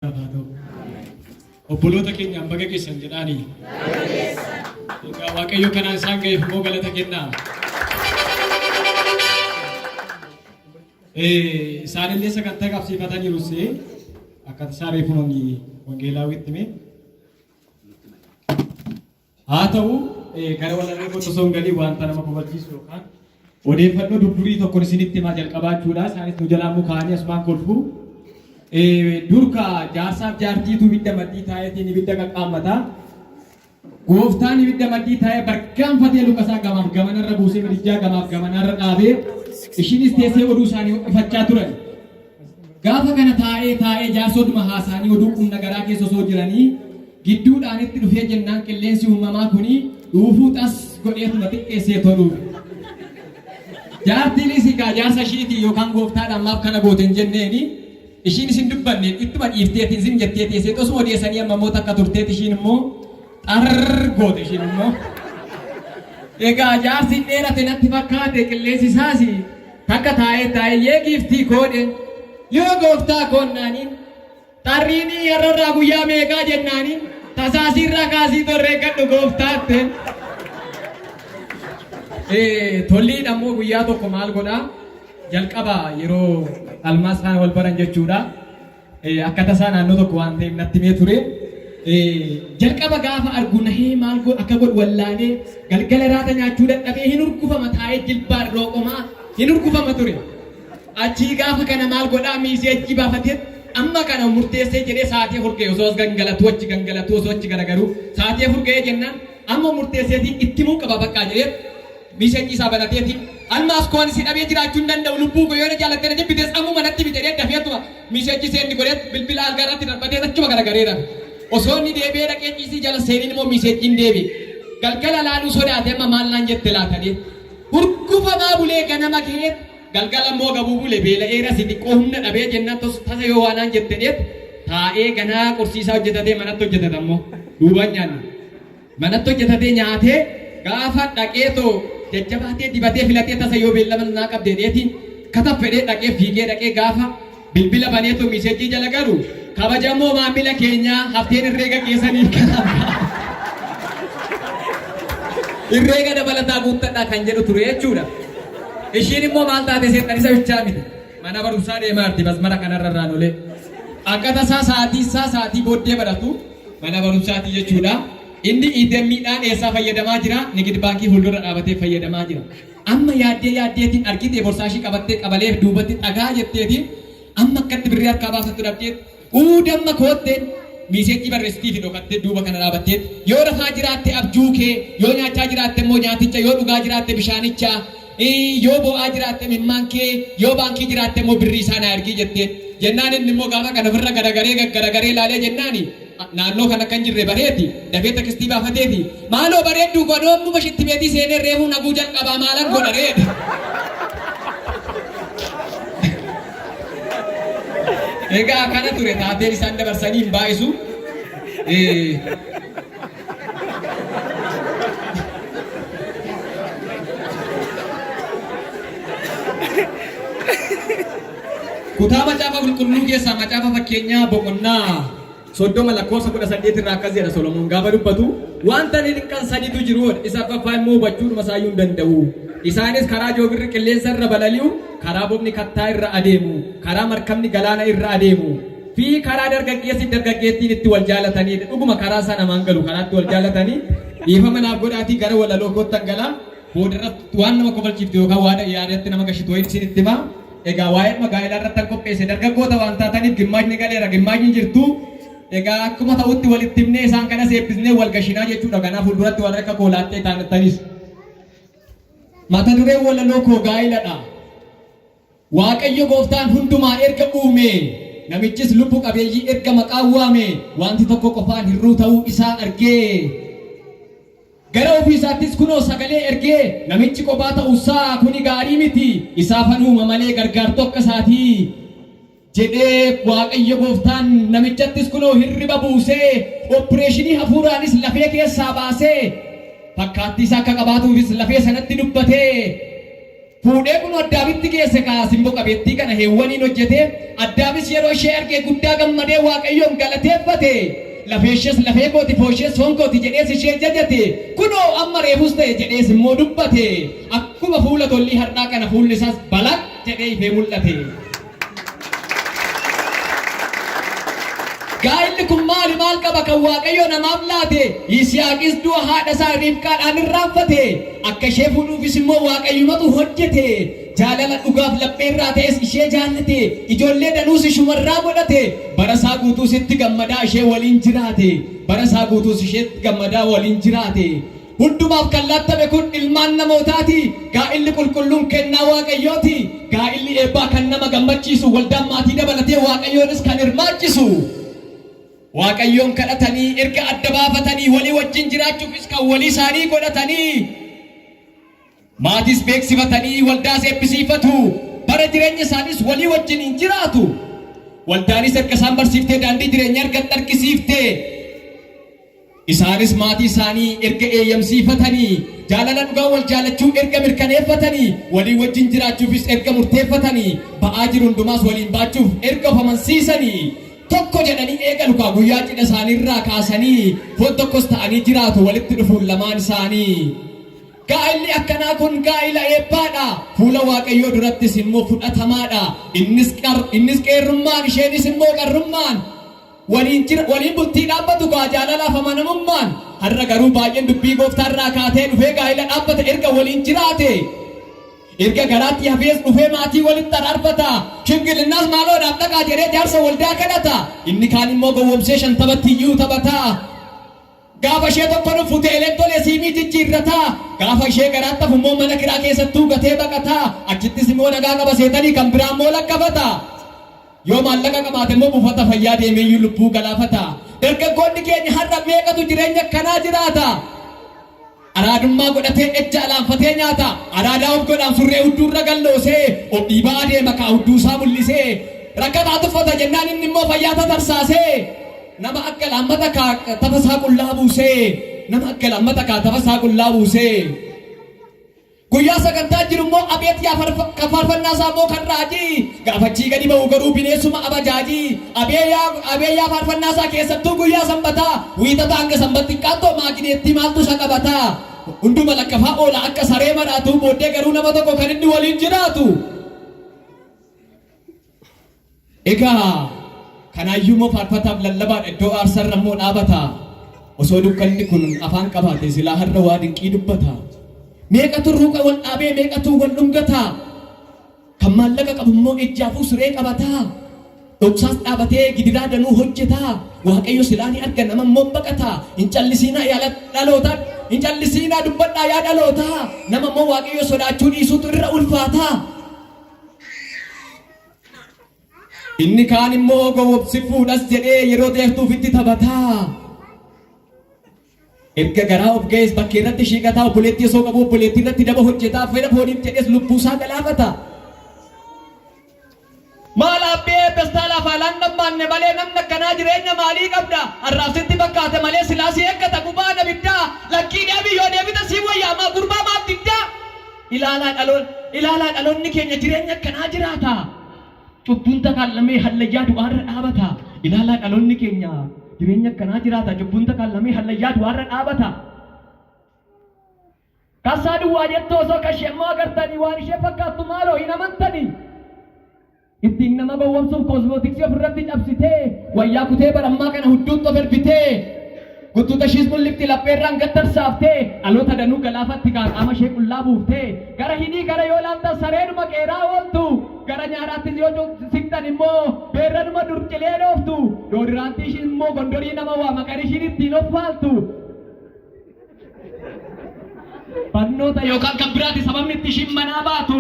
haa ta'u. Obboloota keenyaaf baga geessan jedhaanii. Egaa Waaqayyo kanaan isaan ga'eef immoo galata kennaa. Eh, Isaanillee sagantaa qabsiifataniiru see akkati isaa reefuun wangeelaa witti mee. Haa ta'u, gara walaloo kootti osoo hin galiin wanta nama kofalchiisu yookaan odeeffannoo durdurii tokkon isinitti himaa jalqabaa jechuudha. Isaanis nu jalaa mukaanii asumaan kolfu. Durka jaarsaaf jaartiitu ibidda maddii taa'eetiin ibidda qaqqaammata. Gooftaan ibidda maddii taa'ee bargaanfatee lukasaa gamaaf gamanarra buusee madijjaa gamaaf gamanarra dhaabee ishiinis teessee oduu isaanii ho'ifachaa turan. Gaafa kana taa'ee taa'ee jaarsotuma haasaanii oduu qumna garaa keessa osoo jiranii gidduudhaan itti dhufee jennaan qilleensi uumamaa kuni dhuufuu xas godheetuma xiqqeessee too dhuufe. Jaartiin isikaa jaarsa ishiitii yookaan gooftaadhaan maaf kana goote hin jenneeni ishiin isin dubbanne ittuma dhiifteeti isin jettee teessee osuma odeessanii amma immoo takka turteeti ishiin immoo xarr goote ishiin immoo. Egaa jaarsi dheerate natti fakkaate qilleensi isaas Takka taa'ee taa'ee yee giiftii koodheen yoo gooftaa koon naaniin xarriinii yarrarraa guyyaa meeqaa jennaaniin tasaasiirraa kaasii torreekkadhu gooftaatteen. Tolliidha immoo guyyaa tokko maal godhaa jalqaba yeroo almaas faana wal baran jechuudha. Akka tasaa naannoo tokko waan ta'eef natti himee ture. Jalqaba gaafa argu nahee maal akka godhu wallaalee galgala raata nyaachuu dadhabee hin urgufama taa'ee jilbaan rooqomaa hin urgufama ture. Achii gaafa kana maal godhaa miisee achii baafatee amma kana murteessee jedhee sa'aatii afur ga'e osoo as gangalatuu achi gangalatuu osoo achi garagaruu sa'aatii afur ga'ee jennaan amma murteesseetiin itti muu qaba bakka jedhee Missage isaa banateetiin Almaaz koo ani si dhabee jiraachuu hin danda'u lubbuu koo yoo na jaalattee na jibbitees ammuma natti himi jedhee dafee utuma missage send godheet bilbila algaa irratti darbateet achuma garagaree rafe. Osoo inni deebi'ee dhaqee ciisii jala seenin immoo missege'n deebi'e. Galgala laaluu sodaate amma maal naan jette laata jedhee. Hurgufamaa bulee ganama ka'eet galgala immoo gabuu bule beela'eera si xiqqoo humna dhabee jennaan tos tasa yoo waa naan jette jedheet taa'ee ganaa qorsiisaa hojjetatee manatti hojjetata immoo duubaan nyaanna. Manatti hojjetatee nyaatee gaafa dhaqeetoo jajjabaatee dibatee filatee tasa yoo beellama naa qabde jedheeti kata fedhee dhaqee fiigee dhaqee gaafa bilbila baneetoo miisejjii jala galu kabajamoo maamila keenyaa hafteen irreega keessaniif kanaaf irreega dabalataa guuttadhaa kan jedhu ture jechuudha. Ishiin immoo maal taate seexan isa bichaa miti. Mana barumsaa deemaa jirti masmara kanarra irraan olee. Akka tasaa sa'aatii isaa sa'aatii booddee baratu Mana barumsaati jechuudha. Inni ATM dhaan eessaa fayyadamaa jira? Nigid baankii fuuldura dhaabatee fayyadamaa jira. Amma yaaddee yaaddeetiin argitee borsaashii qabattee qabalee duubatti xagaa jetteeti amma akkatti birrii harkaa baafattu dhabdeet uu damma kootteen miiseejjii barreessitiifi dhokattee duuba kana dhaabatteet yoo rafaa jiraatte abjuu kee yoo nyaachaa jiraatte immoo nyaaticha yoo dhugaa jiraatte bishaanicha Yoo boo'aa jiraatte imimmaan kee, yoo baankii jiraatte immoo birrii isaa naa ergii jetteen. Jennaan inni immoo gaafa kana ofirra garagaree gaggaragaree ilaalee jennaani naannoo kana akka hin jirre bareeti dafee tekistii baafateefi maaloo bareedduu koo anoo ammuma shitti beetii seenee reefuu naguu jalqabaa maalan godha ree jedhe. Egaa akkana ture taateen isaan dabarsanii hin baay'isu. Kutaa macaafa qulqulluu keessaa macaafa fakkeenyaa boqonnaa soddoma lakkoofsa kudha saddeet irraa akkas jedha Solomoon gaafa dubbatu wanta lilqan sadiitu jiru isa affaffaa immoo hubachuudhuma isaa hin danda'u. Isaanis karaa joobirri qilleensa irra balali'u, karaa bobni kattaa irra adeemu, karaa markabni galaana irra adeemu. fi karaa dargaggeessi fi dargaggeettiin itti wal jaalatanii dha. Dhuguma karaa isaa namaan galu karaa itti wal jaalatanii dhiifama naaf godhaatii gara walaloo koottan gala. Booda irratti waan nama kofalchiiftu yookaan waada yaadatti nama gashitu wayiin isin itti hima. Egaa waa'ee dhuma gaa'elaa irratti an qopheesse dargaggoota waan taataniif gimmaashni galeera gimmaashni jirtu. Egaa akkuma ta'utti walitti himnee isaan kanas eebbisnee wal gashinaa jechuudha. Kanaaf fuulduratti warri akka koo laaxxee taanattanis. Mata dureen walaloo koo gaa'eladha. Waaqayyo gooftaan hundumaa erga uumee, namichis lubbu qabeeyyii erga maqaan waamee, waanti tokko qofaan hir'uu ta'uu isaa argee, gara ofii isaattis kunoo sagalee ergee, namichi qophaa ta'u isaa kuni gaarii miti, isaafan uuma malee gargaartuu akka isaatii jedhee Waaqayyo gooftaan namichattis kunoo hirriba buusee, oppireeshinii hafuuraanis lafee keessaa baasee, fakkaattii isaa akka qabaatuufis lafee sanatti dubbatee, Fuudhee kunoo Addaamitti geesse kaa simbo qabeettii kana Heewwaniin hojjete, Addaamis yeroo ishee arge guddaa gammadee Waaqayyoon galateeffate, lafeeshees lafee kooti fooshees foon kooti jedhees ishee jajate, kunoo amma reefus ta'e jedhees immoo dubbate, akkuma fuula tollii har'aa kana fuulli isaas balaq jedhee ifee mul'ate. Gaa'illi kun maali maal qaba kan Waaqayyo namaaf laate? Yisihaaqis du'a haadha isaa Riibqaadhaan irraanfate. Akka ishee fuudhuufis immoo Waaqayyumatu hojjete. Jaalala dhugaaf laphee irraa ta'es ishee jaallate. Ijoollee danuus ishuma irraa godhate. Bara isaa guutuus itti gammadaa ishee waliin jiraate. Bara isaa guutuus isheetti gammadaa waliin jiraate. Hundumaaf kan laattame kun ilmaan namootaati. Gaa'illi qulqulluun kennaa Waaqayyooti. Gaa'illi eebbaa kan nama gammachiisu, waldaan maatii dabalatee Waaqayyoonis kan hirmaachisu, Waaqayyoon kadhatanii, erga adda baafatanii, walii wajjin jiraachuufis kan walii isaanii godhatanii, Maatiis beeksifatanii waldaas eebbisiifatu, bara jireenya isaaniis walii wajjiniin jiraatu. Waldaanis erga isaan barsiiftee daandii jireenyaa erga itti argisiiftee, isaanis maatii isaanii erga eeyyamsiifatanii, jaalala dhugaa wal jaalachuu erga mirkaneeffatanii, walii wajjin jiraachuufis erga murteeffatanii, ba'aa jiru hundumaas waliin baachuuf erga of amansiisanii, tokko jedhanii eegalu kaa guyyaa cidha isaanii irraa kaasanii foon tokkos ta'anii jiraatu walitti dhufuun lamaan isaanii. Gaa'illi akkanaa kun gaa'ila eebbaa dha, fuula Waaqayyoo durattis immoo fudhatamaa dha. Innis qar, innis qeerrummaan, isheenis immoo qarrummaan waliin jira, waliin bultii dhaabbatu kaa jaalalaaf amanamummaan. Har'a garuu baay'een dubbii gooftaa irraa kaatee dhufee gaa'ila dhaabbata erga waliin jiraate, erga garaatti hafees dhufee maatii walitti araarfata. Shimgilinnaas maaloo naaf dhaqaa jedhee jaarsa waldaa kadhata. Inni kaan immoo gowwomsee shantamatti iyyuu taphata. Gaafa ishee tokko dhuffu teeleen tole siimii jijjiirrata. Gaafa ishee garaatti hafu immoo mana kiraa keessattuu gatee baqata. Achittis immoo nagaa qaba seetanii kan biraa immoo lakkafata. Yoo maallaqa qabaate immoo buufata fayyaa deemee iyyuu lubbuu galaafata. Dargaggoonni keenya har'a meeqatu jireenya akkanaa jiraata? Araadummaa godhatee ejja alaanfatee nyaata. Araadaa of godhaan surree hudduu irra gad loosee of dhiibaa adeema kaa hudduu isaa mul'isee. Rakkataa tuffata jennaan inni immoo fayyaa tatarsaasee. Nama akka laammata kaa tafa isaa qullaa buusee. Nama akka laammata kaa tafa isaa qullaa buusee. Guyyaa sagantaan jiru immoo abeet yaa farfa, kan faarfannaa isaa immoo kan raajii, gaafa achii gadi ba'u garuu bineensuma abajaajii. Abee yaa, abee yaa faarfannaa isaa keessattuu guyyaa sanbataa, wiixata hanga sanbat xiqqaattoo maagineettii maaltu isa qabataa? Hunduma lakkafaa oola akka saree maraatuu, booddee garuu nama tokko kan inni waliin jiraatu. Egaa kanaayyuu immoo faarfataaf lallabaadha iddoo aarsaarra immoo dhaabata. Osoo dukkanni kun afaan qabaate silaa har'a waa dinqii dubbata. Meeqatu ruuqa wal dhaabee meeqatu wal dhungata. Kan maallaqa qabu immoo ejjaafuu siree qabata. Dhoksaas dhaabatee gidiraa danuu hojjeta. Waaqayyo silaa ni arga nama immoo baqata. Hin callisiinaa yaa dhalootaa. Hin callisiinaa dubbadhaa yaa dhalootaa. Nama immoo waaqayyo sodaachuu dhiisuutu irra ulfaata. Inni kaan immoo gowwomsifuudhas jedhee yeroo dheertuuf itti taphataa. Erga garaa of ga'ees bakkee irratti shiiqataa obboleettii osoo qabu obboleettii irratti daba hojjetaa fedha fooniif jedhees lubbuusaa galaafata. Maal abbee pestaalaaf haalaan dhammaanne malee namni akkanaa jireenya maalii qabda? Har'aaf sitti fakkaate malee silaa si eeggata gubaan abiddaa. Lakkii deebii yoo deebite sii wayyaamaa gurbaa maaf diddaa? Ilaalaa dhaloon ilaalaa dhaloonni keenya jireenya akkanaa jiraata. Cubbuun takaan lamee hallayyaa du'aa irra dhaabata. Ilaalaa dhaloonni keenya jireenya akkanaa jiraata. Cubbuun takaan lamee hallayyaa du'aa irra dhaabata. Kassaa duwwaa jettu osoo kashee immoo agartanii waan ishee fakkaattu maaloo hin amantanii. Ittiin nama gowwomsuuf koosmootiksii ofirratti cabsitee, wayyaa kutee bara ammaa kana hudduutti of ergitee, guttuuta ishiis mul'ifti lapheerraan gad tarsaaftee, dhaloota danuu galaafatti kaa qaama ishee qullaa buuftee, gara hidhii kana yoo ilaaltan sareedhuma qeeraa ooltu, gara nyaaraattis yoo siqxan immoo beerranuma dur cilee dhooftu, doodiraantii ishii immoo gondorii nama waama kan ishiin ittiin of faaltu. Barnoota yookaan kan biraati sababni itti ishiin manaa baatu.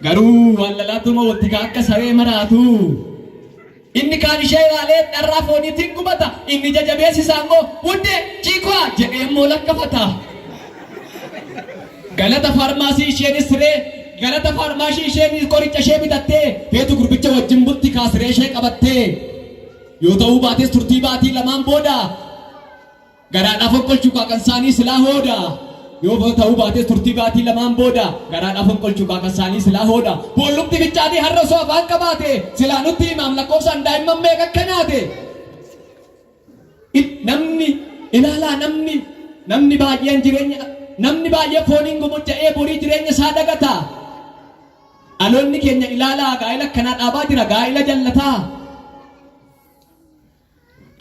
Garuu waallalaattuma wattikaa akka saree maraatu. Inni kaan ishee ilaalee dharraa fooniitiin gubata, inni ija jabeessi isaa immoo Wuddee! Chiikwaa! jedhee immoo lakkafata. Galata faarmaasii isheenis siree Galata faarmaashii isheenis qoricha ishee bitattee feetu gurbicha wajjin bulti kaa siree ishee qabattee. Yoo ta'uu baates turtii baatii lamaan booda Garaadhaaf fonqolchu qaaqan saanii silaa hooda Yoo ta'uu baatees turtii baatii lamaan booda Garaadhaaf fonqolchu qaaqan saanii silaa hooda Boollumti fichaanii har'a osoo afaan qabaate Silaa nutti himaam lakkoofsaan daa'imman meeqa akka nyaate Il, Namni, ilaalaa namni, namni baay'een jireenya Namni baay'ee fooniin gomojja'ee borii jireenya isaa dagata Dhaloonni keenya ilaalaa gaa'ila akkanaa dhaabaa jira gaa'ila jallataa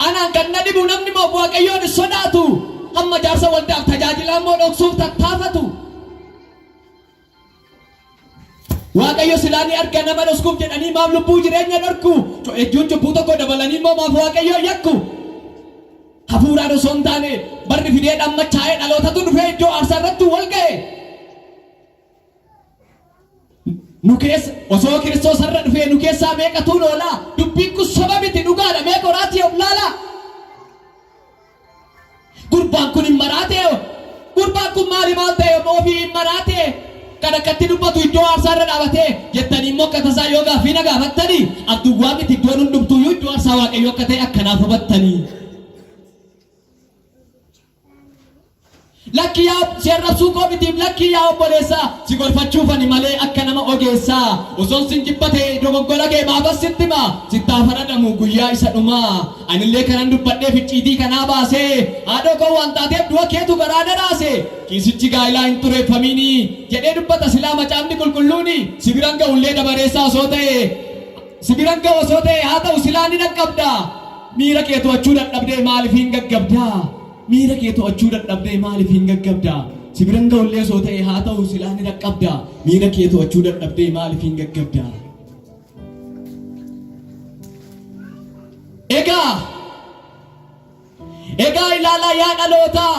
Anaan kan na dhibu namni moof Waaqayyoon hin sodaatu, hamma jaarsa waldaaf tajaajilaa immoo dhoksuuf tattaafatu. Waaqayyo silaa ni arga nama dhoskuuf jedhanii maaf lubbuu jireenya dhorku? Co'eejjuun cubbuu tokko dabalanii immoo maaf Waaqayyoon yakku? Hafuuraan osoo hin taane barri fidee dhammachaa'ee dhalootatu dhufee iddoo aarsaa irratti wal ga'e. nu keessa osoo kiristoos har'a dhufee nu keessaa meeqatuun oolaa dubbiin kun soba miti dhugaadha mee qoraatii of laalaa gurbaan kun hin maraatee hoo? gurbaan kun maali maal ta'e hoo? ofii hin maraatee kan akkatti dubbatu iddoo aarsaa irra dhaabatee jettanii immoo akka tasaa yoo gaaffii na gaafattanii abduwwaa miti iddoon hundumtuuyyuu iddoo aarsaa waaqayyoo akka ta'e akkanaaf hubattanii Lakki yaa si arrabsuu koo mitiif lakki yaa obboleessaa si gorfachuufani malee akka nama ogeessaa osoon sin jibba ta'e dogoggora kee maafan sitti hima sittaa faradhamu guyyaa isa dhumaa anillee kanan dubbadhee ficciitii kanaa baasee haadhoo koo waan taateef du'a keetu garaa na raase kiisichi gaa'ilaa hin xureeffamiini jedhee dubbata silaa macaafni qulqulluuni si biran ga'ullee dabareessaa osoo ta'e Si biran ga'u osoo ta'ee haa ta'u silaa ni dhaqqabda. Miira kee to'achuu dadhabdee maaliif hin gaggabda? Miira kee to'achuu dadhabdee maaliif hin gaggabda? Si biran ga'u illee osoo ta'ee haa ta'u silaa ni dhaqqabda. Miira kee to'achuu dadhabdee maaliif hin gaggabda? Egaa Egaa ilaalaa yaa dhalootaa.